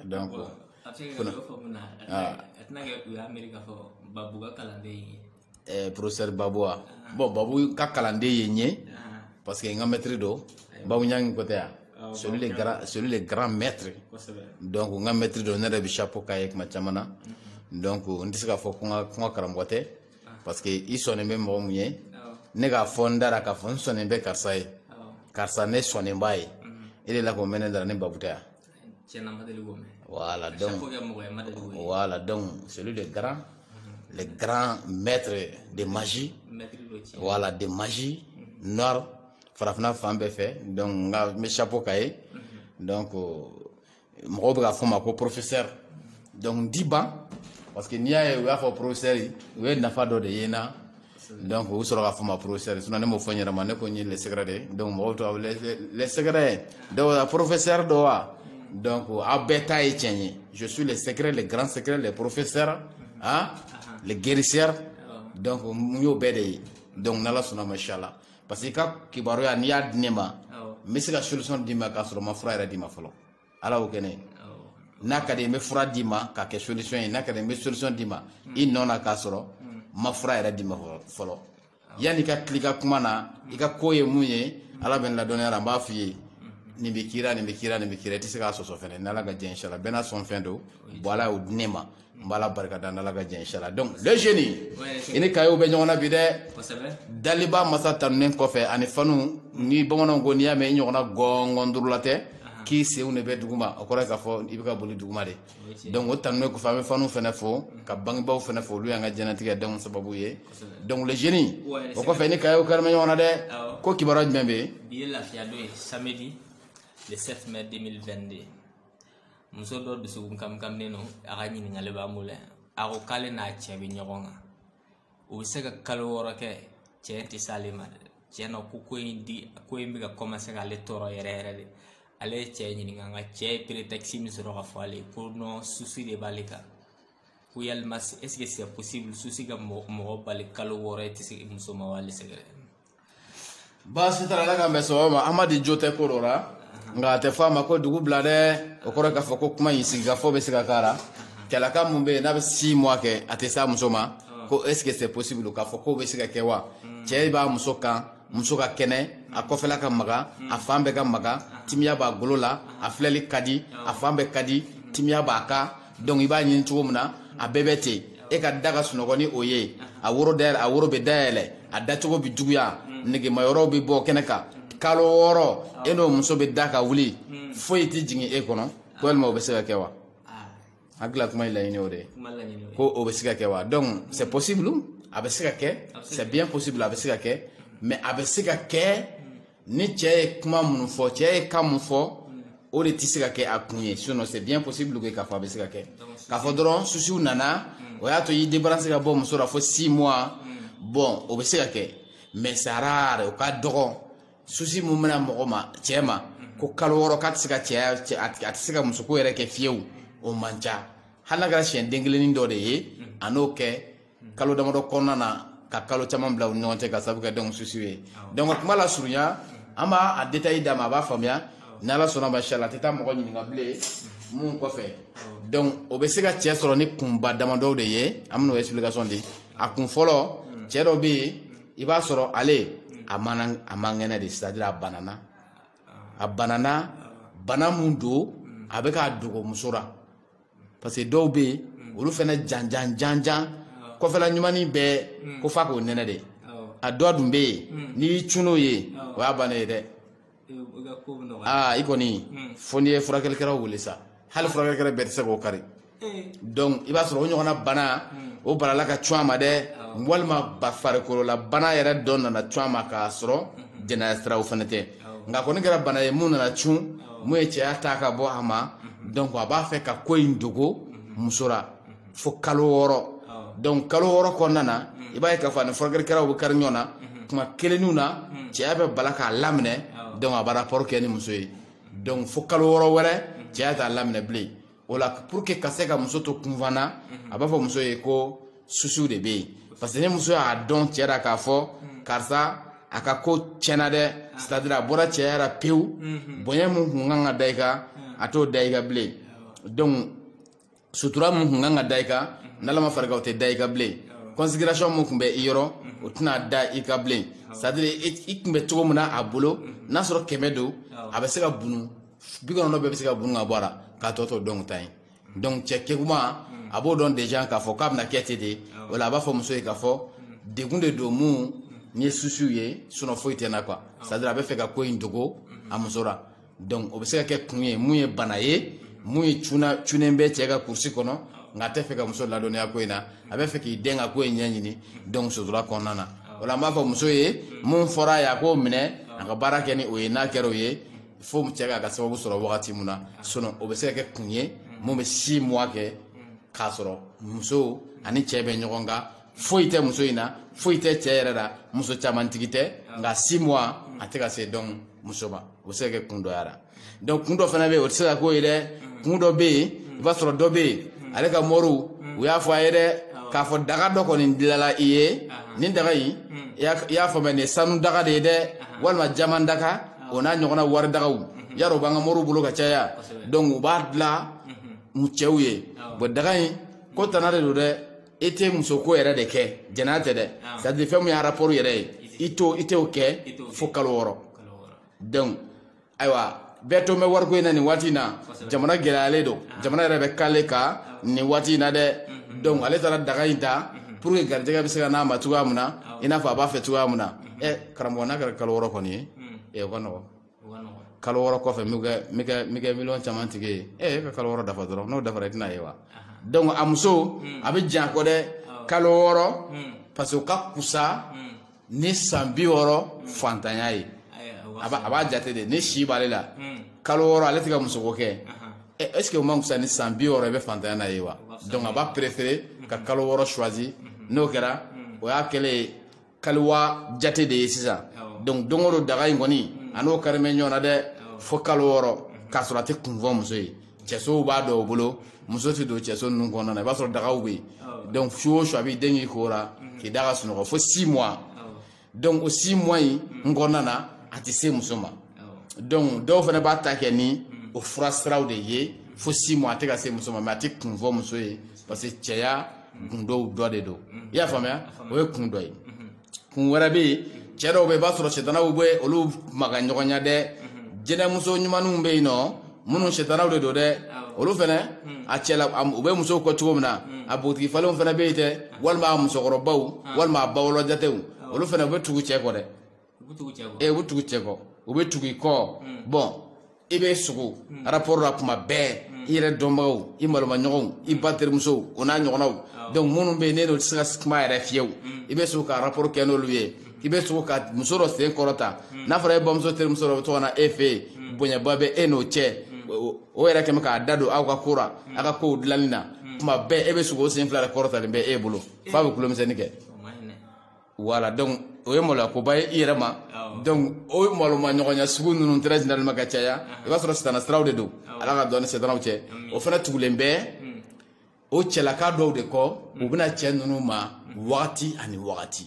a dɔn ko a bɛ se ka dɔ fɔ mun na a tɛna kɛ u y'a miiri k'a fɔ babu ka kalanden ye ɛɛ professeur babu wa bon babu ka kalanden ye n ye parce que n ka mɛtiri don babu ɲangi ko tɛ yan c'est lui le grand c'est lui le grand maître donc n ka mɛtiri don ne yɛrɛ bɛ chapeau k'a ye tuma caman na donc n tɛ se k'a fɔ ko n ka ko n ka karamɔgɔ tɛ parce que i sɔnnen bɛ mɔgɔ mun ye ne k'a fɔ n dara k'a fɔ n sɔnnen bɛ karisa ye karisa ne sɔnnen b'a ye e de la ko mɛnɛ dara ne babu tɛ yan tiɲɛna ma deli k'o mɛn voilà donc chaque fois que mɔgɔ ye ma deli k'o ye voilà donc c'est lui le grand le grand maître de magie maître dɔ tiɲɛ voilà de magie noire farafina fan bɛɛ fɛ donc n ka n bɛ chapeau k'a ye donc mɔgɔw bɛ k'a fɔ n ma ko professeur donc n tɛ ban parce que n'i y'a ye u y'a fɔ professeur u ye nafa dɔ de ye n na donc u sɔrɔ k'a fɔ n ma professeur sinon ne m'o fɔ n yɛrɛ ma ne ko n ye le secret de ye donc mɔgɔw to le secret don wa professeur don wa donc aw bɛɛ ta ye tiɲɛ ye je suis le secret le grand secret le professeur hein le guérisseur donc n y'o bɛɛ de ye donc n'ala sɔnna ma inchallah parce que i ka kibaruya n'i y'a di ne ma n bɛ se ka solution d'i ma k'a sɔrɔ n ma fura yɛrɛ d'i ma fɔlɔ ala y'o kɛnɛ n'a ka di n bɛ fura d'i ma k'a kɛ solution ye n'a ka di n bɛ solution d'i ma i nɔ na k'a sɔrɔ n ma fura yɛrɛ d'i ma fɔlɔ yanni i ka til'i ka kuma na i ka ko ye mun ye ala bɛ n ladɔnniy'a la n b'a f'i ye nin bɛ k'i ra nin bɛ k'i ra nin bɛ k'i ra i tɛ se k'a sɔsɔ fɛnɛ n'ala ka jɛn inshallah bɛɛ n'a sɔn fɛn don bon ala y'o di ne ma n b'ala barika da n'ala ka jɛn inshallah donc le génie i ni kayew bɛ ɲɔgɔn na bi dɛ daliba masa tanunen kɔfɛ ani fanu ni bamananw ko n'i y'a mɛn i ɲɔgɔnna gɔngɔn durula tɛ k'i senw de bɛ duguma o kɔrɔ ye k'a fɔ i bɛ ka boli duguma de donc o tanunen kɔfɛ an bɛ fanu fɛnɛ fo ka bangebaw fɛnɛ fo olu y'an ka jɛnatigɛ don sababu ye donc le génie o kɔfɛ i ni kayew kɛlen bɛ ɲɔgɔn na dɛ ko kibaruya jumɛn bɛ yen bi ye lafiyadon ye samedi le 7 mai 2022 muso dɔ dusukun kamikaminen don a ka ɲininkali b'an bolo yan a ko k'ale n'a cɛ bɛ ɲɔgɔn kan u bɛ se ka kalo wɔɔrɔ kɛ cɛ tɛ s'ale ma dɛ cɛ na ko ko in di ko in bɛ ka commencer k'ale tɔɔrɔ yɛrɛ yɛrɛ de ale ye cɛ ɲininka nka cɛ ye prétexte min sɔrɔ k'a fɔ ale ye ko non souci de b'ale kan ko yalima est ce que c'est possible souci ka mɔgɔ bali kalo wɔɔrɔ i tɛ se muso ma wa le secret baasi t'a la ala k'an bɛn sɔgɔma amadi jo tɛ ko dɔ la nka a tɛ fɔ a ma ko dugu bila dɛ o kɔrɔ k'a fɔ ko kuma in sigikafɔ bɛ se ka k'a la kɛlɛka mun bɛ yen n'a bɛ six mois kɛ a tɛ s'a muso ma ko est ce que c'est possible k'a fɔ k'o bɛ se ka kɛ wa cɛ b'a muso kan muso ka kɛnɛ a kɔfɛla ka maga a fan bɛɛ ka maga timiya b'a golo la a filɛli ka di a fan bɛɛ ka di timiya b'a kan donc i b'a ɲini cogo min na a bɛɛ bɛ ten e ka da ka sunɔgɔ ni o ye a woro bɛ dayɛlɛ a dacogo bɛ juguya negemayɔrɔw bɛ bɔ kɛnɛ kan kalo wɔɔrɔ e n'o muso bɛ da ka wuli foyi tɛ jigin e kɔnɔ ko walima o bɛ se ka kɛ wa hakilila kuma ye laɲini o de ye ko o bɛ se ka kɛ wa donc c'est possible a bɛ se ka kɛ c'est bien possible a bɛ se ka kɛ mais a bɛ se ka kɛ ni cɛ ye kuma minnu fɔ cɛ ye kan min fɔ o de tɛ se ka kɛ a kun ye sinon c'est bien possible que k'a fɔ a bɛ se ka kɛ k'a fɔ dɔrɔn soucis nana hmm. o y'a to i débarrasser ka bɔ muso la fo six mois hmm. bon o bɛ se ka kɛ mais c'est rare o ka dɔgɔ souci mun bɛ na mɔgɔ ma cɛ ma hmm. ko kalo wɔɔrɔ k'a tɛ se ka a tɛ se ka musoko yɛrɛ kɛ fiyewu o man ca hali n'a kɛra siɲɛ den kelennin dɔ de ye a n'o kɛ kalo damadɔ kɔnɔna na ka kalo caman bila u ɲɔgɔn cɛ ka sabu kɛ donc souci ye donc ka kuma lasurunya an b'a a détail d'a ma a b'a faamuya n'ala sɔnna ma shala a tɛ taa mɔgɔ ɲininka bilen mun kɔfɛ donc o bɛ se ka cɛ sɔrɔ ni kunba damadɔw de ye an bɛn'o explication di a kun fɔlɔ cɛ dɔ bɛ yen i b'a sɔrɔ ale a man a man kɛnɛ de c'est à dire a banana a banana bana mun don a b'a fɛ k'a dogo muso la parce que dɔw bɛ yen olu fana janjan janjan kɔfɛla ɲumanni bɛɛ ko fo k'o nɛnɛ de a dɔ dun bɛ yen n'i y'i cun n'o ye o y'a bana ye dɛ aa i kɔni fo n'i ye furakɛlikɛlaw wele sa hali furakɛlikɛla bɛɛ tɛ se k'o kari donc i b'a sɔrɔ o ɲɔgɔnna bana o balala ka cun a ma dɛ walima ba farikolola bana yɛrɛ dɔ nana cun a ma k'a sɔrɔ jɛnɛya siraw fana tɛ nka a kɔni kɛra bana ye mun nana cun mun ye cɛya ta ka bɔ a ma donc a b'a fɛ ka ko in dogo muso la fo kalo wɔɔrɔ donc kalo wɔɔrɔ kɔnɔna na i b'a ye k'a fɔ a ni furakɛlikɛlaw bɛ kari ɲɔgɔn na kuma kelenw na cɛya bɛ bala k'a laminɛ donc a bɛ rapport kɛ ni muso ye donc fo kalo wɔɔrɔ wɛrɛ cɛya t'a laminɛ bilen o la pour que ka se ka muso to kunpa na a b'a fɔ muso ye ko souci de bɛ yen parce que ni muso y'a dɔn cɛ la k'a fɔ karisa a ka ko tiɲɛna dɛ c'est à dire a bɔra cɛya la pewu bonya min kun kan ka da i kan a t'o da i kan bilen donc sutura min kun kan ka da i kan n'ala ma fara i kan o tɛ da i kan bilen considération min kun bɛ i yɔrɔ o tɛna da i kan bilen c'est à dire i kun bɛ cogo min na a bolo n'a sɔrɔ kɛmɛ don a bɛ se ka bunu bi kɔnɔntɔn bɛɛ bɛ se ka bun ka bɔ a la k'a tɔ to dɔrɔn tan ye donc cɛ keguman a b'o dɔn déjà k'a fɔ k'a bɛna kɛ ten de o la a b'a fɔ muso ye k'a fɔ degun de don mun ni ye soucis ye sinon foyi tɛ na quoi c'est à dire a bɛ fɛ ka ko in dogo a muso la donc o bɛ se ka kɛ kun ye mun ye bana ye mun ye cuna cunen bɛ cɛ ka kurusi kɔnɔ nka a tɛ fɛ ka muso ladɔnniya ko in na a bɛ fɛ k'i dɛn ka ko in ɲɛɲini donc sutura kɔnɔna na o la an b'a fɔ muso ye mun fɔra a ye a k'o minɛ a ka baara kɛ ni o ye n'a kɛra o ye fo cɛ k'a ka sababu sɔrɔ wagati min na sinon o bɛ se ka kɛ kun ye min bɛ six mois kɛ k'a sɔrɔ muso ani cɛ bɛ ɲɔgɔn kan foyi tɛ muso in na foyi tɛ cɛ yɛrɛ la muso caman tigi tɛ nka six mois a tɛ ka se donc muso ma o bɛ se ka kɛ kun dɔ y'a la donc kun dɔ fana bɛ yen o tɛ se ka k'o ye dɛ kun dɔ bɛ yen i b'a sɔrɔ dɔ bɛ yen ale ka mɔriw u y'a fɔ a ye dɛ k'a fɔ daga dɔ kɔni dilala i ye nin daga in i y'a faamuya nin ye sanu daga de ye dɛ walima jaman daga o n'a ɲɔgɔnna wari dagaw y'a dɔn u b'an ka moriw bolo ka caya donc u b'a dilan mu cɛw ye bon daga in k'o tana de don dɛ i tɛ musoko yɛrɛ de kɛ jɛnɛya tɛ dɛ c'est à dire fɛn min ye rapport yɛrɛ ye i t'o i t'o kɛ fo kalo wɔɔrɔ donc ayiwa bɛɛ to bɛ wariko in na nin waati in na jamana gɛlɛyalen don jamana yɛrɛ bɛ kale kan nin waati in na dɛ donc ale taara daga in ta pour que garijɛgɛ bɛ se ka n'a ma cogoya min na i n'a fɔ a b'a fɛ cogoya min na ɛ karamɔgɔ n'a kɛra kalo wɔɔrɔ kɔni ye ɛ o ka nɔgɔn kalo wɔɔrɔ kɔfɛ n bɛ kɛ miliyɔn caman tigi ye ɛ e ka kalo wɔɔrɔ dafa dɔrɔn n'o dafara i tɛn'a ye wa donc a muso a bɛ jan kɔ dɛ kalo wɔɔrɔ parce que o ka kusa ni san bi wɔɔrɔ fantanya ye a b'a jate de ni si b'ale la kalo wɔɔrɔ ale tɛ ka musoko kɛ est ce que o man kusa ni san bi wɔɔrɔ i bɛ fantanya na ye wa donc a b'a préféré ka kalo wɔɔrɔ choisi n'o kɛra o y'a kɛlen ye kaliwa jate de ye sisan donc don o don daga in kɔni a n'o kari bɛ ɲɔgɔn na dɛ fo kalo wɔɔrɔ k'a sɔrɔ a tɛ kun fɔ muso ye cɛsow bɛ dɔw bolo muso tɛ don cɛso ninnu kɔnɔna na i b'a sɔrɔ dagaw bɛ yen donc su o su a b'i den k'i ko la k'i da ka sunɔgɔ fo six mois donc o six mois in kɔnɔna na a tɛ se muso ma donc dɔw fana b'a ta kɛ ni o fura siraw de ye fo six mois a tɛ ka se muso ma mais a tɛ kun fɔ muso ye parce que cɛya gundow dɔ de don i y'a faamuya o ye kun dɔ ye kun wɛrɛ bɛ yen cɛ dɔw bɛ yen i b'a sɔrɔ sitanaw bɛ olu maga ɲɔgɔn ɲɛ dɛ jinɛmuso ɲumanw bɛ yen nɔ minnu sitanaw de don dɛ olu fana a cɛla u bɛ musow kɔ cogo min na a bogotigi falenw fana bɛ yen dɛ walima a musokɔrɔbaw walima a bawolo jatew olu fana u bɛ tugu cɛ kɔ dɛ u bɛ tugu cɛ kɔ ee u bɛ tugu cɛ kɔ u bɛ tugu i kɔ bon i bɛ sugo rapport la kuma bɛɛ i yɛrɛ dɔnbagaw i malomaɲɔgɔnw i ba terimusow o n'a ɲɔgɔnnaw donc minnu bɛ yen n'e n'o tɛ se ka kuma yɛrɛ fiyewu i bɛ sugo ka rapport kɛ n'olu ye i bɛ sugo ka muso dɔ sen kɔrɔta n'a fɔra e bamuso terimuso dɔ bɛ to ka na e fɛ yen bonyaba bɛ e n'o cɛ o- o yɛrɛ kɛmɛ k'a da don aw ka ko la aw ka kow dilanni na kuma bɛɛ e bɛ sugo o sen fila de kɔrɔtalen bɛ e bolo f'a bɛ kulomisɛnnin kɛ o man ɲi dɛ voilà donc o ye maloyakoba ye i yɛrɛ ma donc o maloma ɲɔgɔnya sugu ninnu très généralement ka caya i b'a sɔrɔ sitana siraw de don ala ka don an ni sitanaw cɛ o fana tugulen bɛ hmm. o cɛlaka dɔw de kɔ u hmm. bɛna cɛ ninnu ma hmm. wagati ani wagati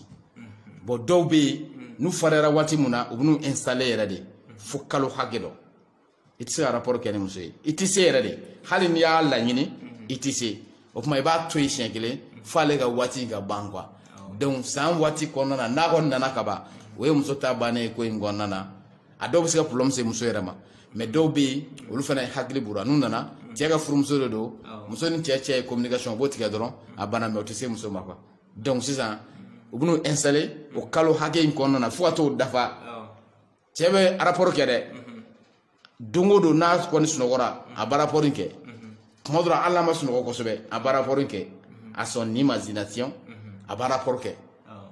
bon dɔw bɛ yen n'u fariyara waati min na u bɛn'u installer yɛrɛ de fo kalo hakɛ dɔ i tɛ se ka rapport kɛ ni muso ye i tɛ se yɛrɛ de hali n'i y'a laɲini i tɛ se o tuma i b'a to yen siɲɛ kelen f'ale ka waati ka ban quoi donc san waati kɔnɔna na n'a kɔni nana ka ban o ye muso ta bannen ye ko in kɔnɔna na a dɔw bɛ se ka problème se muso yɛrɛ ma mais dɔw bɛ yen olu fana hakili b'u la n'u nana cɛ ka furumuso de don muso ni cɛ cɛ ye communication o b'o tigɛ dɔrɔn a banna mais o tɛ se muso ma quoi donc sisan u bɛn'u installer o kalo hakɛ in kɔnɔna na fo ka t'o dafa cɛ bɛ rapport kɛ dɛ don o don n'a kɔni sunɔgɔra a bɛ rapport kɛ tuma dɔ la hali n'a ma sunɔgɔ kosɛbɛ a bɛ rapport kɛ à son imagination a bɛ rapport kɛ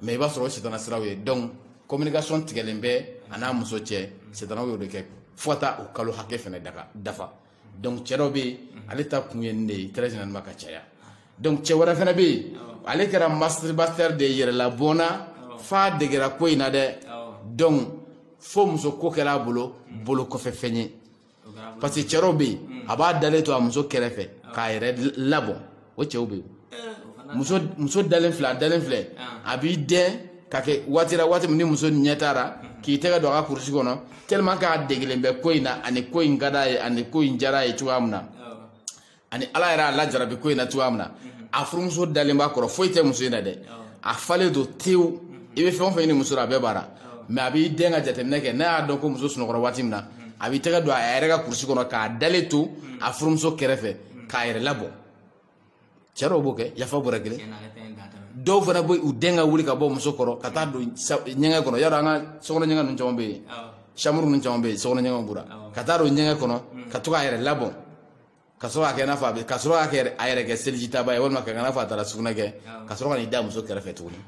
mais i b'a sɔrɔ o sitana siraw ye donc communication tigɛlen bɛ a n'a muso cɛ sitanaw y'o de kɛ fo ka taa o kalo hakɛ fana dafa donc cɛ dɔ bɛ yen ale ta kun ye nin de ye très généralement ka caya donc cɛ wɛrɛ fana bɛ yen ale kɛra masturbateur de ye yɛrɛlabɔnna f'a degera ko in na dɛ donc fo muso ko kɛra a bolo bolo kɔfɛ fɛn ye parce que cɛ dɔ bɛ yen a b'a dalen to a muso kɛrɛfɛ k'a yɛrɛ labɔ o cɛw bɛ yen muso dalen filɛ a dalen filɛ a b'i dɛn ka kɛ waati waati min ni muso ɲɛ taara k'i tɛgɛ don a ka kurusi kɔnɔ tellement k'a degelen bɛ ko in na ani ko in ka d'a ye ani ko in diyara a ye cogoya min na ani ala yɛrɛ y'a lajarabi ko in na cogoya min na a furumuso dalen b'a kɔrɔ foyi tɛ muso in na dɛ a falen don tewu i bɛ fɛn o fɛn ɲini muso la a bɛɛ b'a la mais a b'i dɛn ka jateminɛ kɛ n'a y'a dɔn ko muso sunɔgɔra waati min na a b'i tɛgɛ don a yɛrɛ ka kurusi kɔnɔ k'a dalen to a furumuso kɛrɛfɛ k'a yɛrɛ labɔ cɛ dɔw b'o kɛ yafa b'o la kelen dɔw fana b'u dɛn ka wuli ka bɔ muso kɔrɔ ka taa don ɲɛgɛn kɔnɔ yɔrɔ an ka sokɔnɔ ɲɛgɛn ninnu caman bɛ yen chambre ninnu caman bɛ yen sokɔnɔ ɲɛgɛnw b'u la ka taa don ɲɛgɛn kɔnɔ mm. ka to k'a yɛrɛ labɔ ka sɔrɔ k'a kɛ i n'a fɔ a bɛ ka sɔrɔ k'a kɛ a yɛrɛ kɛ seliji taba ye walima ka kɛ i n'a fɔ a taara sugunɛ kɛ ka sɔrɔ ka n'i da muso kɛrɛfɛ tuguni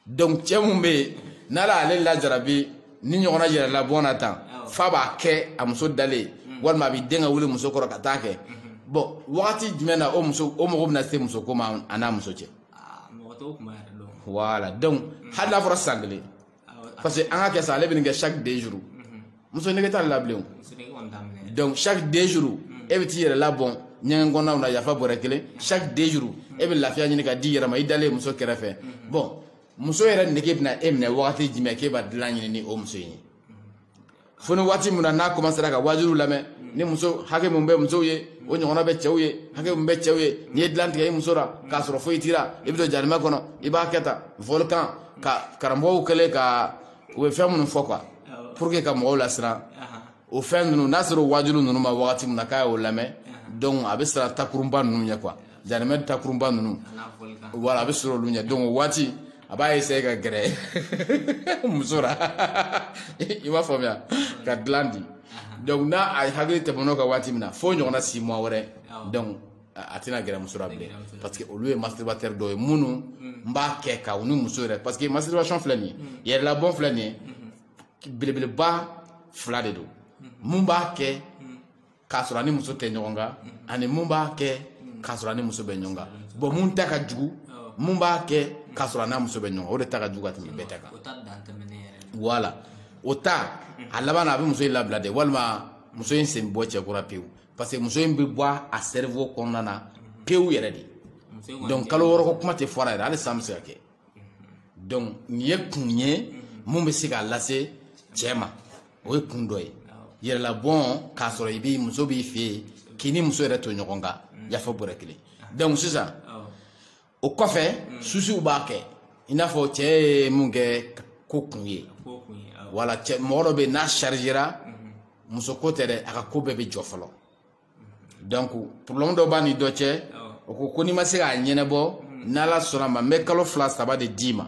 donc cɛ min bɛ yen n'ala y'ale lajarabi nin ɲɔgɔnna yɛrɛlabɔn na tan f'a b'a kɛ a muso dalen mm. walima a b'i dɛn ka wuli muso kɔrɔ ka t'a kɛ mm-hmm. bon wagati jumɛn na o muso o mɔgɔ bɛna se muso ko ma a n'a muso cɛ ah, voilà donc mm. hali n'a fɔra san kelen parce que an k'a kɛ sa ale bɛ nin kɛ chaque deux jours mm. muso nege t'a la bilen donc chaque deux jours e bɛ t'i yɛrɛ labɔn ɲɛgɛn kɔnɔnaw na yafa bɔrɛ kelen chaque deux jours e bɛ lafiya ɲini k'a d'i yɛrɛ ma i dalen muso kɛrɛfɛ bon muso yɛrɛ nege bɛna e minɛ wagati jumɛn k'e b'a dilan ɲini ni o muso in ye fo ni waati min na n'a commencera ka waajuliw lamɛn ni muso hakɛ min bɛ musow ye o ɲɔgɔnna bɛ cɛw ye hakɛ min bɛ cɛw ye n'i ye dilan tigɛ i muso la k'a sɔrɔ foyi t'i la i bɛ don jahanama kɔnɔ i b'a kɛ tan volcan ka karamɔgɔw kɛlen ka u bɛ fɛn minnu fɔ quoi pour que ka mɔgɔw lasiran o fɛn ninnu n'a sera o waajuli ninnu ma wagati min na k'a y'o lamɛn donc a bɛ siran takurunba ninnu ɲɛ quoi jahanama takurunba ninnu voilà a bɛ siran olu ɲɛ donc o waati a b'a essayer ka gɛrɛ muso la i b'a faamuya ka dilan di donc n'a a hakili tɛmɛn'o kan waati min na fo ɲɔgɔnna six mois wɛrɛ donc a tɛna gɛrɛ muso la bilen parce que olu ye masturbateur dɔw ye minnu mm. n b'a kɛ ka u ni muso yɛrɛ parce que masturbation filɛ nin ye mm. yɛrɛlabɔn filɛ nin ye mm-hmm. belebeleba fila de don mm-hmm. min b'a kɛ mm. k'a sɔrɔ a ni muso tɛ ɲɔgɔn kan ani min b'a kɛ k'a sɔrɔ a ni muso bɛ ɲɔgɔn kan bon min ta ka jugu oh. min b'a kɛ k'a sɔrɔ a n'a muso bɛ ɲɔgɔn kan o de ta ka jugu ka tɛmɛ bɛɛ ta kan voilà o ta a laban na a bɛ muso in labila de walima muso in sen bɔ cɛko ra pewu parce que muso in bɛ bɔ a cerveau kɔnɔna na pewu yɛrɛ de donc kalo wɔɔrɔ ko kuma tɛ fɔ a ra yɛrɛ hali san bɛ se ka kɛ donc nin ye kun ye min bɛ se k'a lase cɛ ma o ye kun dɔ ye yɛrɛlabɔn k'a sɔrɔ i b'i muso b'i fɛ yen k'i ni muso yɛrɛ to ɲɔgɔn kan yafa bɔrɛ kelen donc sisan o kɔfɛ mm. susiw b'a kɛ i n'a fɔ cɛ ye mun kɛ ko kun ye wala cɛ mɔgɔ dɔ bɛ yen n'a chargera mm-hmm. muso ko tɛ dɛ a ka ko bɛɛ bɛ jɔ fɔlɔ mm-hmm. donc problème dɔ b'a ni dɔ cɛ o ko ko n'i ma se k'a ɲɛnabɔ mm-hmm. n'ala sɔnna ma n bɛ kalo fila saba de d'i ma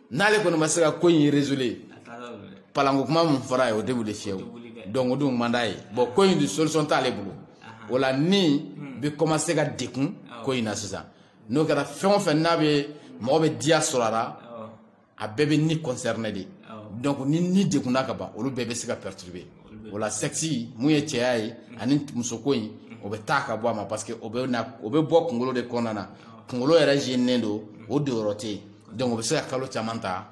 n'ale kɔni ma se ka ko in résoudre palanko kuma min fɔra ye o tɛ wuli fiyewu donc o dun man d'a ye bon ko in solution t'ale bolo o la ni bɛ commencer ka degun ko in na sisan n'o kɛra fɛn o fɛn n'a bɛ mɔgɔ bɛ diya sɔrɔ a la a bɛɛ bɛ ni concerné de donc ni ni degunna ka ban olu bɛɛ bɛ se ka perturber o la sexe min ye cɛya ye ani musoko in o bɛ taa ka bɔ a ma parce que o bɛ na o bɛ bɔ kunkolo de kɔnɔna na kunkolo yɛrɛ jeninen don o donyɔrɔ tɛ yen donc o bɛ se ka kalo caman ta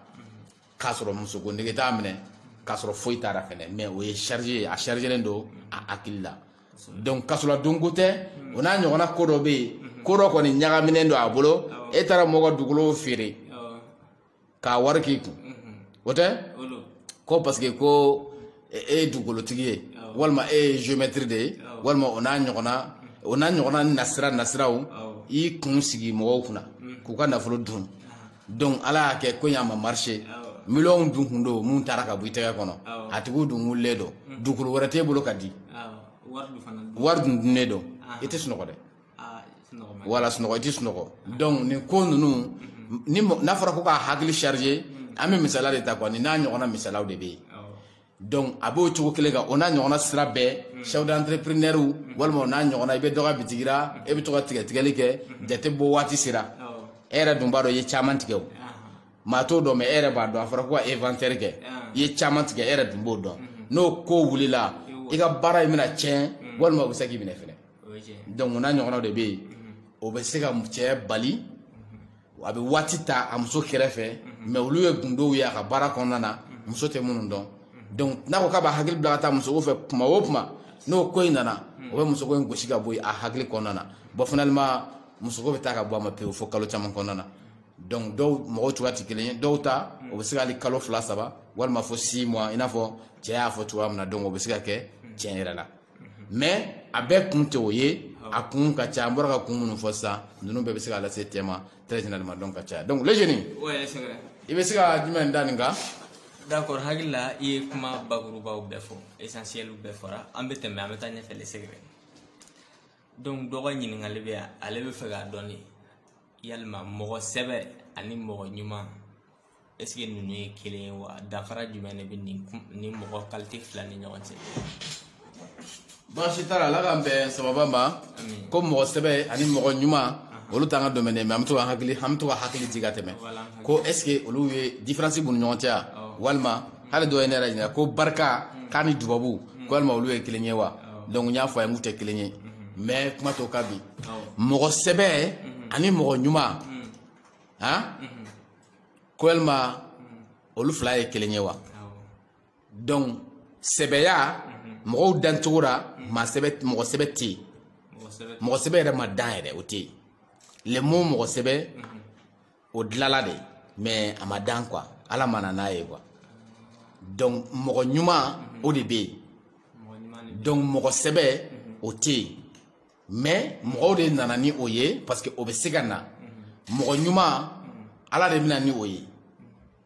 k'a sɔrɔ musoko nege t'a minɛ k'a sɔrɔ foyi t'a ra fana mais o ye charge ye a chargélen don a hakili la donc kasɔrɔ donko tɛ o n'a ɲɔgɔnna ko dɔ bɛ yen ko dɔ kɔni ɲagaminen don a bolo e taara mɔgɔ dugukolo feere k'a wari k'i kun o tɛ ko parce que ko e ye dugukolotigi ye walima e ye géomètre de ye walima o n'a ɲɔgɔnna o n'a ɲɔgɔnna nasira nasiraw i kun sigi mɔgɔw kunna k'u ka nafolo dun donc ala y'a kɛ ko in a ma marché miliyɔnw dun kun don min taara ka bɔ i tɛgɛ kɔnɔ a tigiw dun wulilen don dugukolo wɛrɛ t'e bolo ka di wari dun dunnen don i tɛ sunɔgɔ dɛ wala sunɔgɔ i tɛ sunɔgɔ donc nin ko ninnu n'a fɔra ko k'a hakili charger an bɛ misaliya de ta quoi nin n'a ɲɔgɔnna misaliyaw de bɛ yen donc a b'o cogo kelen kan o n'a ɲɔgɔnna sira bɛɛ chef d'entrepreneur walima o n'a ɲɔgɔnna i bɛ dɔ ka bitigi la e bɛ to ka tigɛ tigɛli kɛ jate bɔ waati sera e yɛrɛ dun b'a dɔn i ye caman tigɛ o maa t'o dɔn mais e yɛrɛ b'a dɔn a fɔra ko ka inventaire kɛ i ye caman tigɛ e yɛrɛ dun b'o dɔn n'o ko wulila i ka baara in bɛna tiɲɛ walima o bɛ se k'i minɛ fɛnɛ donc o n'a ɲɔgɔnna de bɛ yen o bɛ se ka cɛ bali a bɛ waati ta a muso kɛrɛfɛ mais olu ye gundow ye a ka baara kɔnɔna na muso tɛ minnu dɔn donc n'a ko k'a b'a hakili bila ka taa muso fɛ kuma o kuma n'o ko in nana o bɛ muso ko in gosi ka bɔ a hakili kɔnɔna na bon finalement muso ko bɛ taa ka bɔ a ma pewu fɔ kalo caman kɔnɔna na donc dɔw mɔgɔ cogoya tɛ kelen ye dɔw ta o bɛ se ka kalo fila saba walima fɔ six mois i n'a fɔ cɛ y'a fɔ cogoya min na donc o bɛ se ka kɛ tiɲɛ yɛrɛ la mais a bɛɛ kun tɛ o ye a kun ka ca an bɔra ka kun minnu fɔ sisan ninnu bɛɛ bɛ se k'a lase cɛ ma très généralement donc a ka ca donc le génie i bɛ se ka jumɛn da nin kan d'accord hakili la i ye kuma bakurubaw bɛɛ fɔ essentielw bɛɛ fɔra an bɛ tɛmɛ an bɛ taa ɲɛfɛ le secret donc dɔ ka ɲininkali bɛ ale b'a fɛ k'a dɔn de yalima mɔgɔ sɛbɛ ani mɔgɔ ɲuman est-ce que ninnu ye kelen ye wa danfara jumɛn de bɛ nin mɔgɔ qualité fila ni ɲɔgɔn cɛ baasi t'a la ala k'an bɛn sababa ma ko mɔgɔ sɛbɛ ani mɔgɔ ɲuman olu t'an ka domaine mais an bɛ to ka hakili an bɛ to ka hakili jigin ka tɛmɛ ko est-ce que olu ye différence b'u ni ɲɔgɔn cɛ walima hali dɔ ye ne yɛrɛ ɲininka ko barika k'a ni dubabu ko walima olu ye kelen ye wa donc n y'a fɔ a ye k'u tɛ kelen ye mais kuma to ka bi mɔgɔ sɛbɛ ani mɔgɔ ɲuman han ko yalima olu fila ye kelen ye wa donc sɛbɛya mɔgɔw dancogo la maa sɛbɛ mɔgɔ sɛbɛ tɛ yen mɔgɔ sɛbɛ yɛrɛ ma dan yɛrɛ o tɛ yen le mot mɔgɔ sɛbɛ o dilala de mais a ma dan quoi ala ma na n'a ye quoi donc mɔgɔ ɲuman o de bɛ yen donc mɔgɔ sɛbɛ o tɛ yen mais mɔgɔw de nana ni o ye parce que o bɛ se ka na mɔgɔ ɲuman ala de bɛ na ni o ye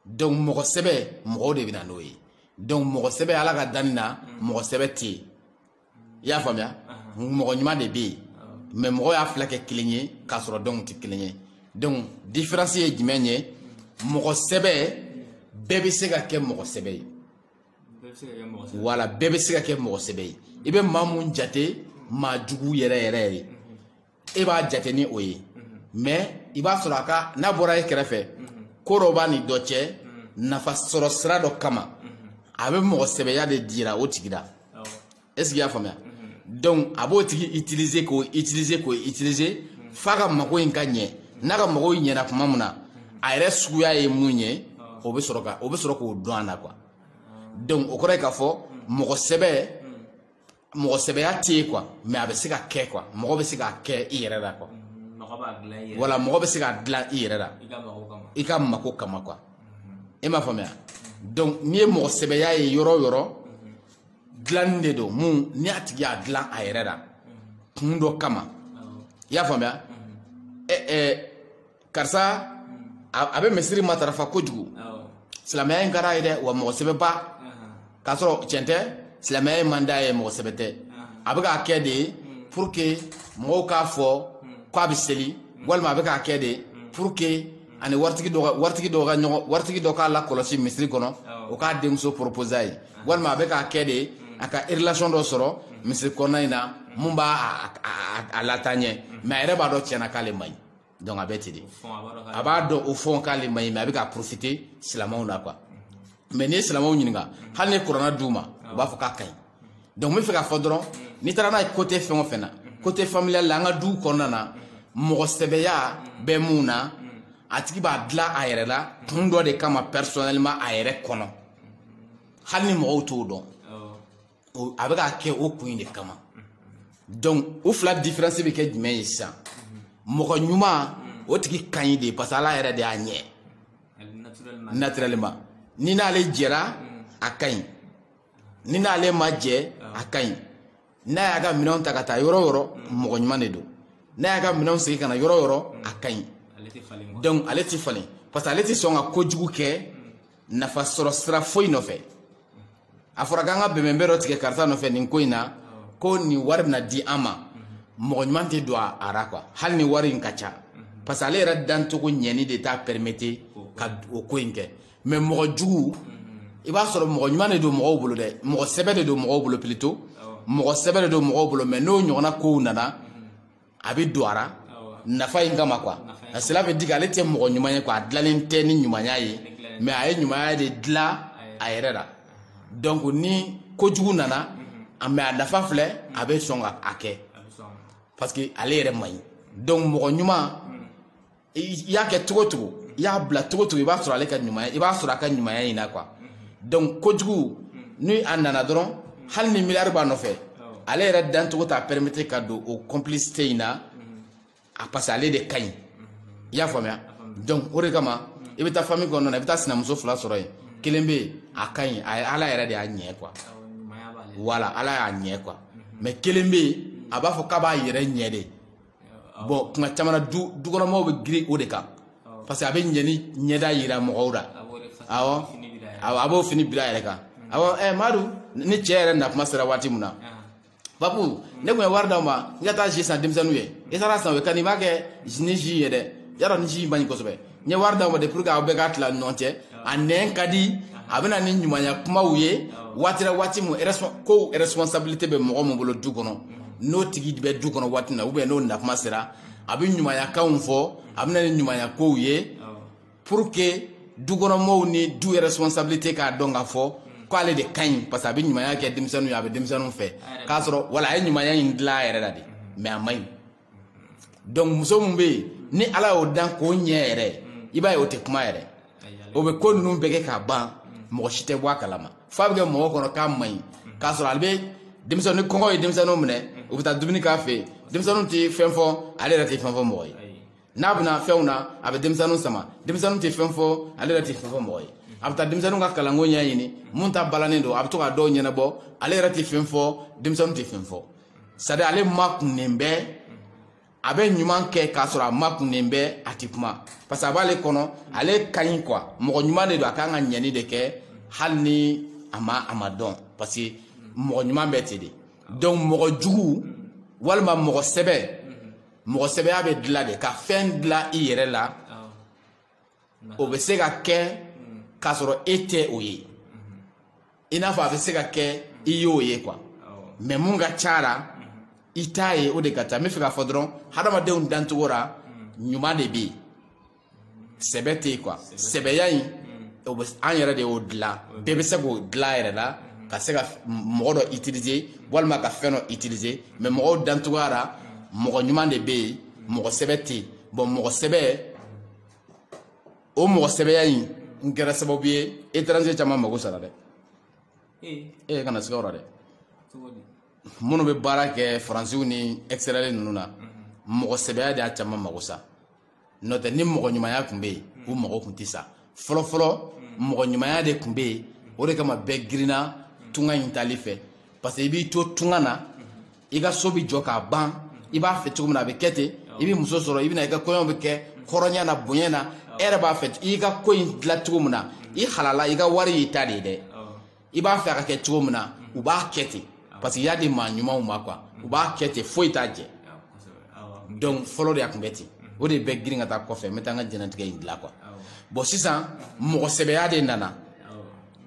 donc mɔgɔ sɛbɛ mɔgɔw de bɛ na n'o ye donc mɔgɔ sɛbɛ ala ka danni na mɔgɔ sɛbɛ tɛ yen i y'a faamuya mɔgɔ ɲuman de bɛ yen mais mɔgɔw y'a fila kɛ kelen ye k'a sɔrɔ donc u tɛ kelen ye donc différence ye jumɛn ye mɔgɔ sɛbɛ bɛɛ bɛ se ka kɛ mɔgɔ sɛbɛ ye wala bɛɛ bɛ se ka kɛ mɔgɔ sɛbɛ ye i bɛ maa mun jate maa jugu yɛrɛ yɛrɛ ye e b'a jate ni o ye mais i b'a sɔrɔ a ka n'a bɔra e kɛrɛfɛ ko dɔ b'a ni dɔ cɛ nafa sɔrɔ sira dɔ kama a bɛ mɔgɔ sɛbɛya de jira o tigi la est-ce que i y'a faamuya donc a b'o tigi utiliser k'o utiliser k'o utiliser f'a ka mago in ka ɲɛ n'a ka mago in ɲɛna tuma min na a yɛrɛ suguya ye mun ye o bɛ sɔrɔ ka o bɛ sɔrɔ k'o dɔn a la quoi donc o kɔrɔ ye k'a fɔ mɔgɔ sɛbɛ mɔgɔ sɛbɛya tɛ yen quoi mais a bɛ se ka kɛ quoi mɔgɔ bɛ se k'a kɛ i yɛrɛ la quoi wala mɔgɔ bɛ se k'a dilan i yɛrɛ la i ka mago kama quoi e m'a faamuya donc n'i ye mɔgɔ sɛbɛya ye yɔrɔ o yɔrɔ dilanni de don mun ni a tigi y'a dilan a yɛrɛ la kun dɔ kama i y'a faamuya ɛ ɛ karisa a bɛ misiri matarafa kojugu silamɛya in ka d'a ye dɛ wa mɔgɔ sɛbɛ ba k'a sɔrɔ cɛn tɛ silamɛya in man d'a ye mɔgɔ sɛbɛ tɛ a bɛ k'a kɛ de pour que mɔgɔw k'a fɔ k'a bɛ seli walima a bɛ k'a kɛ de pour que a ni waritigi dɔ waritigi dɔ ka ɲɔgɔn waritigi dɔ k'a lakɔlɔsi misiri kɔnɔ o k'a denmuso proposer a ye walima a bɛ k'a kɛ de a ka relation dɔ sɔrɔ misiri kɔnɔna in na mun b'a a lataa ɲɛ mais a yɛrɛ b'a dɔn tiɲɛna k'ale man ɲi donc a bɛ ten de a b'a dɔn au fond k'ale man ɲi mais a bɛ ka profiter silamɛw la quoi mais n'i ye silamɛw ɲininka hali ni kurana d'u ma u b'a fɔ k'a ka ɲi donc n bɛ fɛ k'a fɔ dɔrɔn n'i taara n'a ye côté fɛn o fɛn na côté familial la an ka duw kɔnɔna na mɔgɔ sɛbɛya bɛ mun na a tigi b'a dilan a yɛrɛ la kun dɔ de kama personnellement a yɛrɛ kɔnɔ hali ni mɔgɔw t'o dɔn a bɛ k'a kɛ o kun in de kama donc o fila différence bɛ kɛ jumɛn ye sisan mɔgɔ ɲuman o tigi ka ɲi de parce que ala yɛrɛ de y'a ɲɛ naturellement n'i n'ale jɛra a ka ɲi n'i n'ale ma jɛ a ka ɲi n'a y'a ka minɛnw ta ka taa yɔrɔ o yɔrɔ mɔgɔ ɲuman de don n'a y'a ka minɛnw segin ka na yɔrɔ o yɔrɔ a ka ɲi ale tɛ falen quoi donc ale tɛ falen parce que ale tɛ sɔn ka kojugu kɛ nafa sɔrɔ sira foyi nɔfɛ a fɔra k'an ka bɛnbɛnbɛn dɔ tigɛ karisa nɔfɛ nin ko in na ko nin wari bɛna di an ma mɔgɔ ɲuman tɛ don a ra quoi hali ni wari in ka ca parce que ale yɛrɛ dancogo ɲɛni de t'a permettre ka o ko in kɛ mais mɔgɔ jugu i b'a sɔrɔ mɔgɔ ɲuman de don mɔgɔw bolo dɛ mɔgɔ sɛbɛ de don mɔgɔw bolo plutôt mɔgɔ sɛbɛ de don mɔgɔw bolo mais n'o ɲɔgɔnna kow nana a bɛ don a ra nafa in kama quoi cela veut dire ale tɛ mɔgɔ ɲuman ye quoi a dilannen tɛ ni ɲumanya ye mais a ye ɲumanya de dilan a yɛrɛ la donc ni kojugu nana mais a nafa filɛ a bɛ sɔn ka a kɛ parce que ale yɛrɛ man ɲi donc mɔgɔ ɲuman i y'a kɛ cogo cogo i y'a bila cogo cogo i b'a sɔrɔ ale ka ɲumanya i b'a sɔrɔ a ka ɲumanya in na quoi donc kojugu ni a nana dɔrɔn hali ni miliyari b'a nɔfɛ ale yɛrɛ dancogo t'a permettre ka don o complicité in na a parce que ale de ka ɲi i y'a faamuya donc o de kama i bɛ taa famille kɔnɔna na i bɛ taa sinamuso fila sɔrɔ yen kelen bɛ yen a ka ɲi a ye ala yɛrɛ de y'a ɲɛ quoi voilà ala y'a ɲɛ quoi mais kelen bɛ yen a b'a fɔ k'a b'a yɛrɛ ɲɛ de bon kuma caman na dukɔnɔmɔgɔw bɛ girin o de kan parce que a bɛ ɲɛni ɲɛda yira mɔgɔw la awɔ awɔ a b'o fini bila a yɛrɛ kan awɔ ɛ madu ni cɛ yɛrɛ na kuma sera waati min na papu ne tun ye wari d'aw ma n ka taa jus san denmisɛnninw ye i taara san o ye ka nin b'a kɛ ni jus ye dɛ y'a dɔn ni jus in man ɲi kosɛbɛ n ye wari d'aw ma de pour que aw bɛɛ k'a tila ɲɔgɔn cɛ a nɛn ka di a bɛ na ni ɲumanya kumaw ye waati la waati min ko responsabilité bɛ mɔgɔ min bolo du kɔnɔ n'o tigi bɛ du kɔnɔ waati min na ou bien n'o nakuma sera a bɛ ɲumanyakanw fɔ a bɛ na ni ɲumanya kow ye pour que dukɔnɔmɔgɔw ni du yɛrɛ responsabilité k'a dɔn k'a fɔ k'ale de ka ɲi parce que a bɛ ɲumanya kɛ denmisɛnninw ye a bɛ denmisɛnninw fɛ k'a sɔrɔ wala a ye ɲumanya in dilan a yɛrɛ la de mais a man ɲi donc muso min bɛ yen ni ala y'o dan k'o ɲɛ yɛrɛ i b'a ye o tɛ kuma yɛrɛ o bɛ ko ninnu bɛɛ kɛ k'a ban mɔgɔ si tɛ bɔ a kalama f'a bɛ kɛ mɔgɔ kɔnɔ k'a man ɲi k'a sɔrɔ ale bɛ denmisɛnnin ni kɔngɔ ye denmisɛnninw minɛ u bɛ taa dumuni k'a fɛ yen denmisɛnninw tɛ fɛn fɔ ale yɛrɛ tɛ fɛn fɔ mɔgɔ ye n'a bɛna fɛnw na a bɛ denmisɛnninw sama denmisɛnninw tɛ fɛn fɔ ale yɛrɛ tɛ fɛn fɔ mɔgɔ ye a bɛ taa denmisɛnninw ka kalanko ɲɛɲini mun ta balannen don a bɛ to ka dɔw ɲɛnabɔ ale yɛrɛ tɛ fɛn fɔ denmisɛnninw tɛ fɛn fɔ c'est à dire ale makunnen bɛ a bɛ ɲuman kɛ k'a sɔrɔ a makunnen bɛ a tɛ kuma parce que a b'ale kɔnɔ ale ka ɲi quoi mɔgɔ ɲuman de don a kan ka ɲɛni de kɛ hali ni a ma a ma dɔn parce que mɔgɔ ɲuman bɛ ten de donc mɔgɔ jugu walima mɔgɔ sɛbɛ mɔgɔ sɛbɛya bɛ dilan de ka fɛn dilan i yɛrɛ la o bɛ se ka kɛ k'a sɔrɔ e tɛ o ye i n'a fɔ a bɛ se ka kɛ i y'o ye quoi mais mun ka ca la i t'a ye o de ka ca n bɛ fɛ k'a fɔ dɔrɔn hadamadenw dancogo la ɲuman de bɛ yen sɛbɛ tɛ yen quoi sɛbɛya in an yɛrɛ de y'o dilan bɛɛ bɛ se k'o dilan a yɛrɛ la ka se ka mɔgɔ dɔ utiliser walima ka fɛn dɔ utiliser mais mɔgɔw dancogoya la mɔgɔ ɲuman de bɛ yen mɔgɔ sɛbɛ tɛ yen bon mɔgɔ sɛbɛ o mɔgɔ sɛbɛya in n kɛra sababu ye étranger caman mago sara dɛ e eh, kana siga o la dɛ minnu bɛ baara kɛ faransiw ni extérieur ninnu na mhm. mɔgɔ sɛbɛya de y'a caman mago sa n'o tɛ ni mɔgɔ ɲumanya tun bɛ yen u mhm. mago tun tɛ sa fɔlɔfɔlɔ mhm. mɔgɔ ɲumanya de tun bɛ yen o de kama bɛɛ girinna tunga in tali fɛ parce que i b'i to tunga na i ka so bɛ jɔ k'a ban i b'a fɛ cogo min na a bɛ kɛ ten i bɛ muso sɔrɔ i bɛna i ka kɔɲɔ bɛ kɛ hɔrɔnya na bonya na e yɛrɛ b'a fɛ i ka ko in dilan cogo min na i halala i ka wari y'i ta de ye dɛ i b'a fɛ a ka kɛ cogo min na u b'a kɛ ten parce que i y'a di maa ɲumanw ma quoi u b'a kɛ ten foyi t'a jɛ donc fɔlɔ de a tun bɛ ten o de bɛ girin ka taa kɔfɛ n bɛ taa n ka jɛnatigɛ in dilan quoi bon sisan mɔgɔ sɛbɛya de nana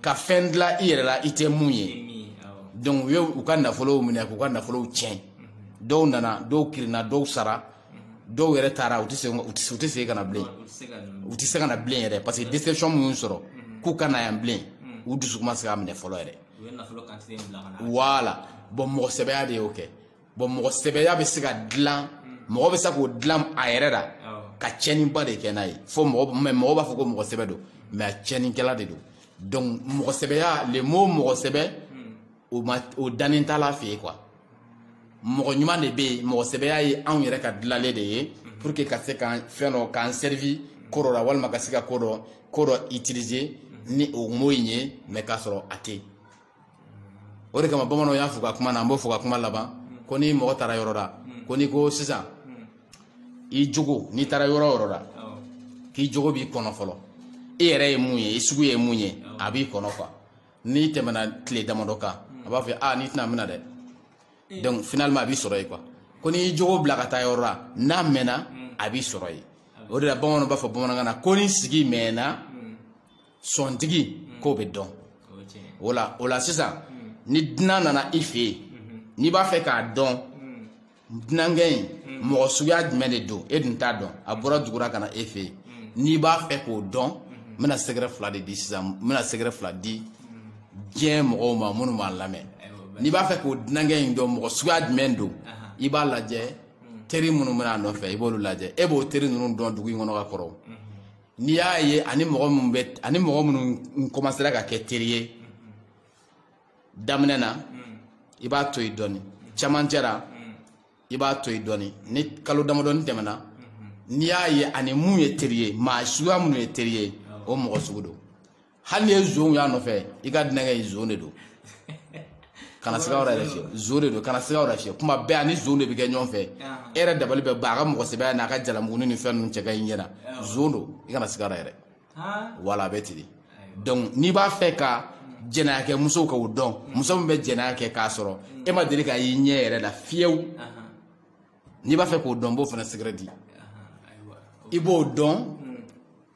ka fɛn dilan i yɛrɛ la i tɛ mun ye donc u ye u ka nafolow minɛ k'u ka nafolow tiɲɛ dɔw nana dɔw kirinna dɔw sara dɔw yɛrɛ taara u tɛ segin u tɛ segin ka na bilen u tɛ se ka na bilen yɛrɛ parce que déception min y'u sɔrɔ k'u ka na yan bilen u dusukun ma se ka minɛ fɔlɔ yɛrɛ voilà bon mɔgɔ sɛbɛya de y'o kɛ bon mɔgɔ sɛbɛya bɛ se ka dilan mɔgɔ bɛ se k'o dilan a yɛrɛ la ka tiɲɛniba de kɛ n'a ye fo mɔgɔ mɛ mɔgɔ b'a fɔ ko mɔgɔ sɛbɛ don mais a tiɲɛnikɛla de don donc mɔgɔ sɛbɛya le mot mɔgɔ sɛbɛ o ma o dannen t'Ala fɛ yen quoi mɔgɔ ɲuman de bɛ yen mɔgɔ sɛbɛya ye anw yɛrɛ ka dilanlen de ye pour que ka se ka fɛn dɔ k'an servi ko dɔ la walima ka se ka ko dɔ ko dɔ utiliser ni o mot in ye mais k'a sɔrɔ a tɛ yen o de kama bamananw y'a fɔ ka kuma na an b'o fɔ ka kuma laban ko ni mɔgɔ taara yɔrɔ la ko n'i ko sisan i jogo n'i taara yɔrɔ o yɔrɔ la k'i jogo b'i kɔnɔ fɔlɔ i yɛrɛ ye mun ye i sugu ye mun ye a b'i kɔnɔ quoi n'i tɛmɛna tile damadɔ kan a b'a fɔ a n'i tɛna mina dɛ donc finalement a b'i sɔrɔ yen quoi ko n'i y'i jogo bila ka taa yɔrɔ la n'a mɛnna a b'i sɔrɔ yen o de la bamananw b'a fɔ bamanankan na ko ni sigi mɛnna sɔntigi mm. k'o bɛ dɔn o la o la sisan mm. ni dunan nana i fɛ yen mm-hmm. n'i b'a fɛ k'a dɔn mm. dunankɛ in mɔgɔ suguya jumɛn de don e dun t'a dɔn a bɔra dugu la ka na e fɛ yen n'i b'a fɛ k'o dɔn mm-hmm. n bɛna secret fila de di sisan n bɛna secret fila di diɲɛ mɔgɔw ma minnu b'a lamɛn n'i b'a fɛ k'o dunankɛ in dɔn mɔgɔ suguya jumɛn don i b'a lajɛ teri minnu bɛ na a nɔfɛ i b'olu lajɛ e b'o teri ninnu dɔn dugu in kɔnɔ ka kɔrɔ n'i y'a ye a ni mɔgɔ minnu bɛ a ni mɔgɔ minnu commencera ka kɛ teri ye daminɛ na i b'a to yen dɔɔni camancɛ la i b'a to yen dɔɔni ni kalo damadɔni tɛmɛna n'i y'a ye a ni min ye teri ye maa suguya minnu ye teri ye o mɔgɔ sugu don hali n'i ye zonw y'a nɔfɛ i ka dunankɛ ye zon de don kana siga wɛrɛ yɛrɛ fiyɛ zon de don kana siga wɛrɛ fiyɛ tuma bɛɛ a ni zon de bɛ kɛ ɲɔgɔn fɛ e yɛrɛ dabali bɛ ban a ka mɔgɔ sɛbɛya n'a ka jalamuguni ni fɛn ninnu cɛ ka ɲi ɲɛ na zon don i kana siga wɛrɛ yɛrɛ voilà a bɛ ten de donc n'i b'a fɛ ka jɛnɛya kɛ musow ka ko dɔn muso min bɛ jɛnɛya kɛ k'a sɔrɔ e ma deli k'a y'i ɲɛ yɛrɛ la fiyewu n'i b'a fɛ k'o dɔn n b'o fana secret di i b'o dɔn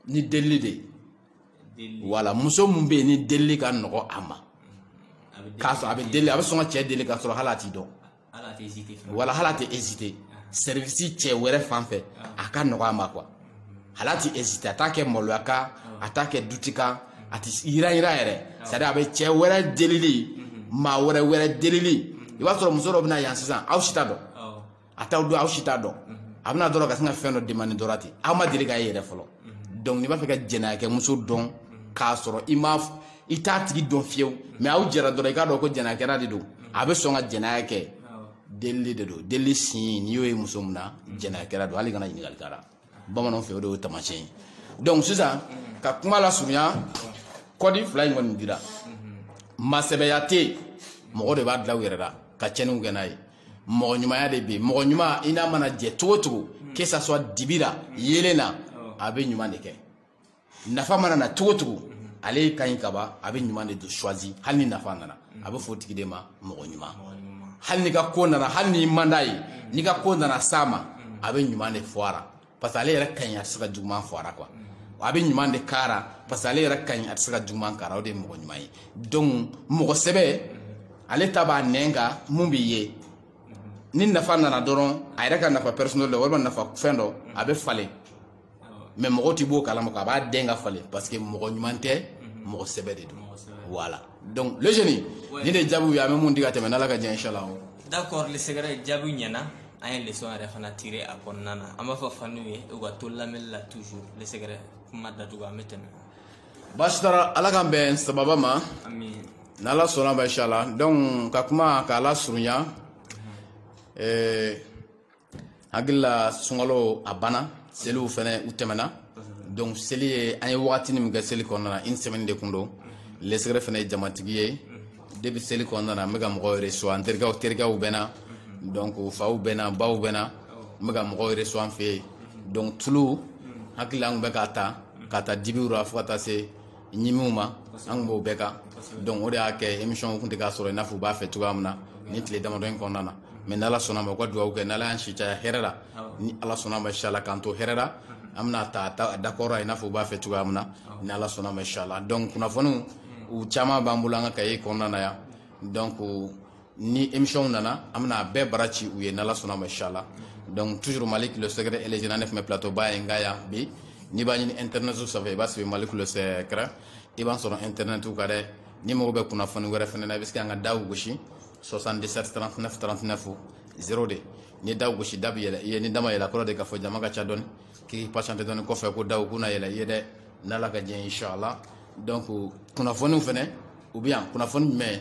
ni delili de ye wala muso min bɛ yen ni delili ka nɔgɔ a ma k'a sɔrɔ a bɛ deli a bɛ sɔn ka cɛ deli k'a sɔrɔ hali a t'i dɔn wala hali a tɛ hésiter service cɛ wɛrɛ fan fɛ a ka nɔgɔ a ma quoi hali a tɛ hésiter a t'a kɛ maloya kan a t'a kɛ doute kan a tɛ yiranyiran yɛrɛ c'est-à-dire a bɛ cɛ wɛrɛ delili maa wɛrɛ wɛrɛ delili i b'a sɔrɔ muso dɔ bɛ na yan sisan aw si t'a dɔn a t'aw dɔn aw si t'a dɔn a bɛ na dɔrɔn ka sin ka fɛn dɔ demander dɔrɔn ten aw ma deli k'a ye yɛrɛ fɔlɔ donc n'i b'a fɛ ka jɛnɛya kɛ muso dɔn k'a sɔrɔ i ma i t'a tigi dɔn fiyewu mais aw jɛra dɔrɔn i k'a dɔn ko jɛnɛyakɛla de don a bɛ sɔn ka jɛnɛya kɛ delili de don delili signe n'i y'o ye muso min na jɛnɛyakɛla don hali kana ɲininkali k'a la bamananw fɛ o de y'o taamasiyɛn ye donc sisan ka kuma lasurunya code fila in kɔni dira masɛbɛya tɛ yen mɔgɔw de b'a dilan u yɛrɛ la ka cɛnniw kɛ n'a ye mɔgɔ ɲumanya de bɛ yen mɔgɔ ɲuman i n'a mana jɛ cogo cogo que ça soit dibi la yeelen na a bɛ ɲuman de kɛ nafa mana na cogo cogo ale yɛrɛ ka ɲi kaba a bɛ ɲuman de choisi hali ni nafa nana a bɛ fɔ o tigi de ma mɔgɔ ɲuman hali n'i ka ko nana hali n'i man d'a ye n'i ka ko nana s'a ma a bɛ ɲuman de fɔ a la parce que ale yɛrɛ ka ɲi a tɛ se ka juguman fɔ a la quoi a bɛ ɲuman de k'a la parce que ale yɛrɛ ka ɲi a tɛ se ka juguman k'a la o de ye mɔgɔ ɲuman ye donc mɔgɔ sɛbɛ ale ta b'a nɛn kan min bɛ yen ni nafa nana dɔrɔn a yɛrɛ ka nafa personnel dɔ walima nafa fɛn dɔ a bɛ falen mais mɔgɔ tɛ b'o kalama a b'a den ka falen parce que mɔgɔ ɲuman tɛ mhm. mɔgɔ sɛbɛ de don voilà donc le jeune ni de jaabiw ye an bɛ mun di ka tɛmɛ n'ala ka diɲɛ inshallah d'accord le secret jaabiw ɲɛna an ye leçon yɛrɛ fana tirer a kɔnɔna na an b'a fɔ faniw ye u ka to lamɛnni la toujours le secret kuma datugu an bɛ tɛmɛ baasi t'a la ala k'an bɛn sababa ma n'ala sɔnna ma inshallah donc ka kuma k'a lasurunya mhm. eh, hakili la sunkalo a banna seliw fɛnɛ u tɛmɛna donc seli ye an ye wagatini min kɛ seli kɔnɔna na une semaine de kun don le secret fɛnɛ ye jamatigi ye depuis seli kɔnɔna na n bɛ ka mɔgɔw reçoit an terikɛw bɛ na donc faw bɛ na baw bɛ na n bɛ ka mɔgɔw reçoit an fɛ yen donc tulu hakili la an kun bɛ k'a ta ka ta dibiw la fo ka taa se ɲimiw ma an kun b'o bɛɛ kan donc o de y'a kɛ émission kun tɛ ka sɔrɔ i n'a fɔ u b'a fɛ cogoya min na ni tile damadɔ in kɔnɔna na mais n'ala sɔnna ma u ka dugawu kɛ n'ala y'an si caya hɛrɛ la ni ala sɔnna ma inshallah k'an to hɛrɛ la an bɛna ta dakɔrɔ i n'a fɔ u b'a fɛ cogoya min na ni ala sɔnna ma inshallah donc kunnafoniw u caman b'an bolo an ka kaye kɔnɔna na yan donc ni émission nana an bɛna a bɛɛ bara ci u ye n'ala sɔnna ma inshallah donc toujours malik le secret et les jeunes ne tun bɛ plateau ba ye n ka yan bi n'i b'a ɲini internet sanfɛ i b'a sɛbɛn malik le secret i b'an sɔrɔ internet kan dɛ n'i mago bɛ kunnafoni wɛrɛ fɛnɛ na i bɛ se k'an ka daw gosi 77 39 39 02 ni daw gosi da bɛ yɛlɛ i ye ni da ma yɛlɛ kɔrɔ de k'a fɔ jama ka ca dɔɔni k'i patienter dɔɔni kɔfɛ ko daw bɛna yɛlɛ i ye dɛ n'ala ka diɲɛ inshallah donc kunnafoniw fɛnɛ u bɛ yan kunnafoni jumɛn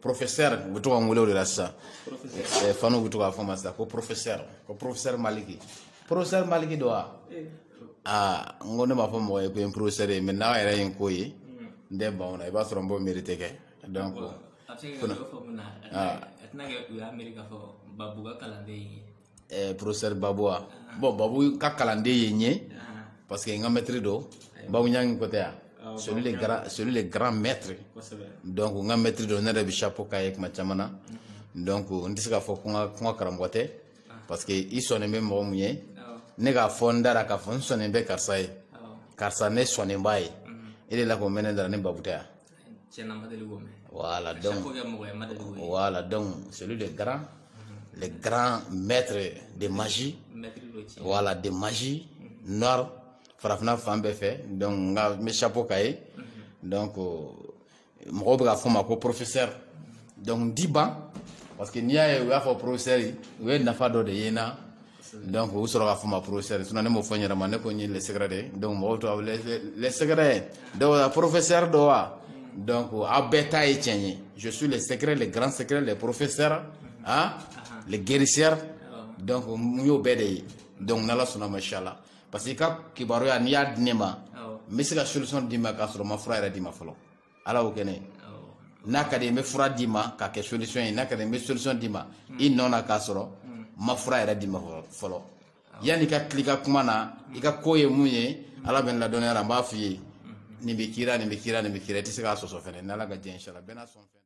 professeur u bɛ to ka n wele o de la sisan eh, fanw bɛ to k'a fɔ n ma sisan ko professeur ko professeur maliki professeur maliki don wa aa n ko ne m'a fɔ mɔgɔ ye ko n ye professeur ye mais n'a yɛrɛ ye n ko ye n tɛ ban o la i b'a sɔrɔ n b'o mérite kɛ donc a bɛ se ka kɛ dɔ faamu na a tɛna kɛ u y'a miiri k'a fɔ babu ka kalanden ye eh, professeur babu wa bon babu ka kalanden ye n ye parce que n ka mɛtiri don babu ɲangi ko tɛ ah, c'est lui le grand c'est lui le grand maître donc n ka mɛtiri don ne yɛrɛ bi chapeau k'a ye kuma caman na mm-hmm. donc n tɛ se k'a fɔ ko n karamɔgɔ tɛ ah. parce que i sɔnnen bɛ mɔgɔ mun ye ah. ne k'a fɔ n da ra k'a fɔ n sɔnnen bɛ karisa ye karisa ne sɔnnen b'a ye mm-hmm. e delila k'o mɛn ne da ra ni babu tɛ wa tiɲɛ na n ma deli k'o mɛn voilà donc chaque fois kɛ mɔgɔ ye n ma deli k'o ye voilà donc c'est lui le grand le grand maître de magie maître don tiɲɛ voilà de magie noire farafina fan bɛɛ fɛ donc n ka n bɛ chapeau k'a ye donc mɔgɔw bɛ k'a fɔ n ma ko professeur donc n tɛ ban parce que n'i y'a ye u y'a fɔ professeur u ye nafa dɔ de ye n na donc u sɔrɔ k'a fɔ n ma professeur sinon ne m'o fɔ n yɛrɛ ma ne ko n ye le secret de ye donc mɔgɔw to a le secret don wa professeur don wa donc aw bɛɛ ta ye tiɲɛ ye je suis le secret le grand secret le professeur hein le guérisseur donc n y'o bɛɛ de ye donc n'ala sɔnna ma inchallah parce que i ka kibaruya n'i y'a di ne ma n bɛ se ka solution d'i ma k'a sɔrɔ n ma fura yɛrɛ d'i ma fɔlɔ ala y'o kɛ n ye n'a ka di n bɛ fura d'i ma k'a kɛ solution ye n'a ka di n bɛ solution d'i ma hmm. i nɔ na k'a sɔrɔ hmm. n ma fura yɛrɛ d'i ma fɔlɔ yanni i ka til'i ka kuma na i ka ko ye mun ye hmm. ala bɛ n ladɔnniya a la n b'a f'i ye nin bɛ k'i ra nin bɛ k'i ra nin bɛ k'i ra i tɛ se k'a sɔsɔ fɛnɛ n'ala ka diɲɛ inshallah bɛna sɔn fɛn